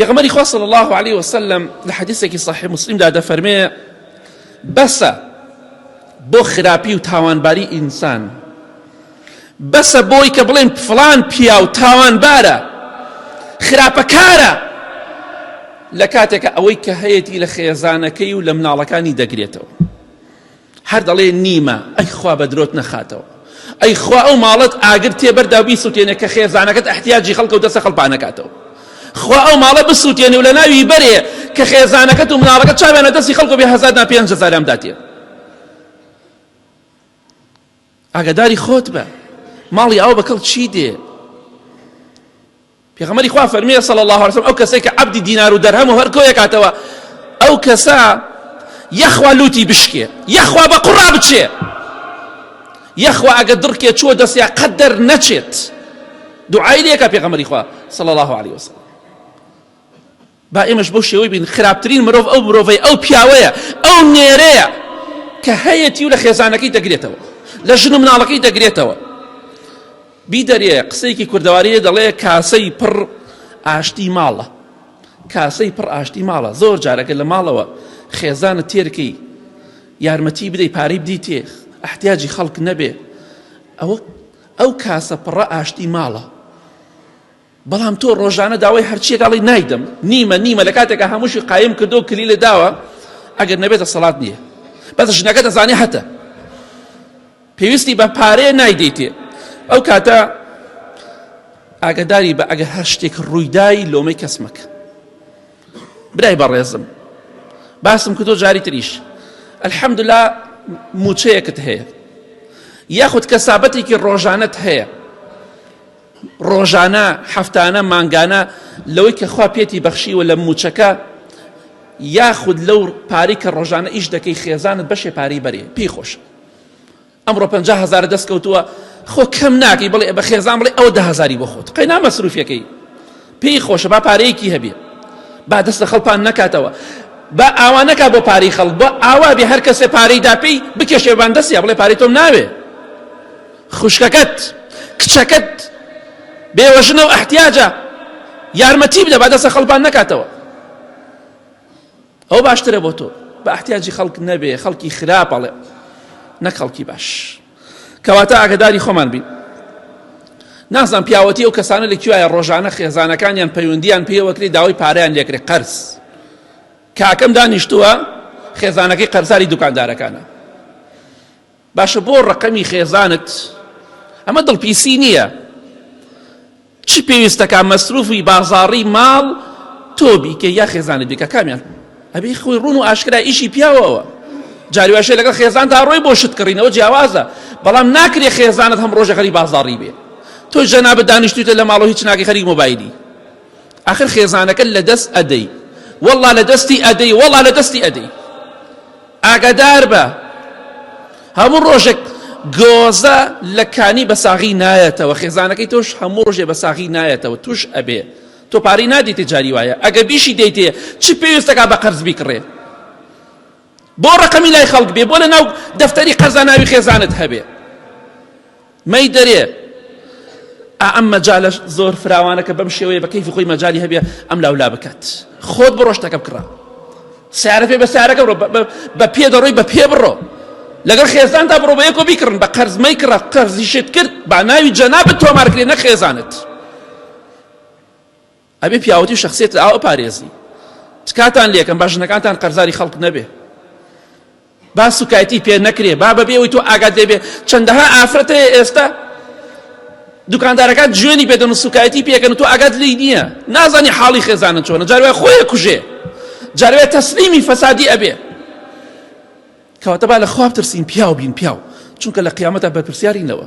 پێغەمبەری خوا صلی الله علیه وسلم لە حەدیثێکی صحیح مسلمدا دەفەرمێ بەسە بۆ خراپی و تاوانباری ئینسان بەسە بۆی کە بڵێن فلان پیا و تاوانبارە خراپەکارە لە کاتێکە ئەوەی کە هەیەتی لە خێزانەکەی و لە مناڵەکانی دەگرێتەوە هەر دەڵێ نیمە، ئەی خوا بە درۆت نەخاتەوە، ئەی خوا ئەو ماڵەت ئاگر تێ بەردا و بیسوتێنێ کە خێزانەکەت ئەحتیاجی خەڵکە و دەستە خەڵ پا نەکاتەوە، خوا ئەو ماڵە بسوتێنێ و لە ناوی بەرێ کە خێزانەکەت و مناڵەکەت چاویان لە دەستی خەڵک و بێ هەزار نا پێنج هەزاریان بداتێ. ئاگاداری خۆت بە ماڵی ئەو بەکەڵ چی دێ پێغەمەری خوا فەرمیە سەڵ الله وسلم ئەو کەسێک کە عبدی دینار و دەرهەم و هەرکۆیە کاتەوە ئەو کەسە یەخوا لوتی بشکێ یەخوا بە قڕا بچێ یەخوا ئەگە دڕکێ چوە دەستیا قەت دەر نەچێت دوعای لەکە پێغەمەری خوا سەڵ الله عليه وسلم با ئێمەش بەو شێوەی بین، خراپترین مرۆڤ ئەو مرۆڤەیە، ئەو پیاوەیە، ئەو نێرەیە کە هەیەتی و لە خێزانەکەی دەگرێتەوە، لە ژن و مناڵەکەی دەگرێتەوە. بیدەرێ قسەیەکی کوردەواریە دەڵێ کاسەی پڕ ئاشتی ماڵە. کاسەی پڕ ئاشتی ماڵە زۆر جارەکە لە ماڵەوە خێزانە تێرکەی یارمەتی بدەی پارەی بدیتێ احتیاجی خەڵک نەبێ ئەوە ئەو کاسە پڕە ئاشتی ماڵە بەڵام تۆ ڕۆژانە داوای هەرچیەک ئەڵی نایدەم نیمە نیمە لە کاتێکە هەمووشی قایم کردو کلی لە داوە ئەگەر نەبێتە سەڵات نییە بەس ژنەکە دەزانێ هەتە پێویستی بە پارەیە نایدەیتێ ئەو کاتە ئاگداری بە ئەگەر هەر شتێک ڕوویدای لۆمەی کەس مەکە برای بەڕێزم باسم کردۆ جاری تریش ئەلحەمدلا موچەیەکت هەیە یاخود کەسابەتێکی ڕۆژانت هەیە ڕۆژانە، هەفتانە، مانگانە لەوەی کە خوا پێتی بەخشیوە لە مووچەکە یاخود لەو پارەی کە ڕۆژانە ئیش دەکەی خێزانت بەشێ پارەی بەرێ پێی خۆشە ئەمڕۆ پەنج هزار دەست کەوتووە خۆ کەم ناکەی بڵێ بە خێزان بڵێ ئەو ده هزاری بۆ خۆت قەینا مەسروفەکەی پێی خۆشە با پارەیەکی هەبێ با دەست لە خەڵپان نەکاتەوە با ئاوانەکە بۆ پارەی خەڵک بۆ ئاوا بێ هەر کەسێ پارەی داپی بکێشێبان دەستیا بڵێ پارەی تۆم ناوێ خوشکەکەت کچەکەت بێوەژنە و ئەحتیاجە یارمەتی بدە با دەسە خەڵبان نەکاتەوە ئەو باشترە بۆ تۆ بە ئەحتیاجی خەڵک نەبێ خەڵکی خراپەڵێ نەک خەڵکی باش کەواتە ئاگداری خۆمان بین نازان پیاوەتی ئەو کەسانە لە کوایە ڕۆژانە خێزانەکانیان پەیوەندیان پێوەکری داوای پاریان لێکرێ قەرز کاکەم دانیشتووە خێزانەکەی قەرزاری دوکاندارەکانە باشە بۆ ڕەقەمی خێزانت ئەمە دڵپیسی نییە چی پێویستەکە مەسروفی بازاڕی ماڵ تۆ بیکە یا خێزانت بیکە کامیان ئەبی خۆی ڕون و ئاشکرا ئیشی پیاوەوە جاریواشە لەگەڵ خێزان تا ڕۆی بۆ شت کڕینەوە جیاوازە بەڵام ناکرێ خێزانت هەم ڕۆژە خەری بازاڕی بێ تۆ جەنابە دانیشتوتە لە ماڵەوە هیچ ناگەی خەری مۆبایلی آخر خێزانەکە لە دەست ئەدەی والله لە دەستی ئەدەی والله لە دەستی ئەدەی ئاگاداربە هەموو ڕۆژێک گۆزە لە کانی بە ساغی نایەتەوە خێزانەکەی تۆش هەموو ڕۆژێ بە ساغی نایەتەوە توش ئەبێ تۆ پارەی نادیتێ جاری وایە ئەگە بیشی دەیتێ چ پێویستەکە بە قەرز بیکڕێ بۆ ڕقەمی لای خەڵک بێ بۆ لە ناو دەفتەری قەرزاناوی خێزانت هەبێ مەی دەرێ ئا ئەم مەجالە زۆر فراوانە کە بەم شێوەیە بە کەیفی خۆی مەجالی هەبێ ئەم لاولا بکات خۆت بڕۆ شتەکە بکڕە سیارە پێ بە سیارەکە بڕۆ بە پێ دەڕۆی بە پێ بڕۆ لەگەڵ خێزاندا بڕۆ بە یەکۆ بیکڕن بە قەرزمەی کڕە قەرزیشت کرد با ناوی جەنابت تۆمارکرێ نە خێزانت ئەبێ پیاوەتی و شەخسیەت لە ئاو پارێزی تکاتان لێکەم با ژنەکانتان قەرزاری خەڵک نەبێ با سوکایتی پێ نەکرێ با بەبێ ئەوی تۆ ئاگات لێبێ چەندەها ئافرەت هەیە ئێستا دوکاندارەکان جوێنی پێدەن و سوکایەتی پێکەن و تۆ ئاگات لی نییە نازانی حاڵی خێزانە چۆنە جاروای خۆیە کوژێ جاروێ تەسلیمی فەسادی ئەبێ کەواتە با لە خواب ترسین پیاو بین پیاو چونکە لە قیامەتە بەرپرسیارینەوە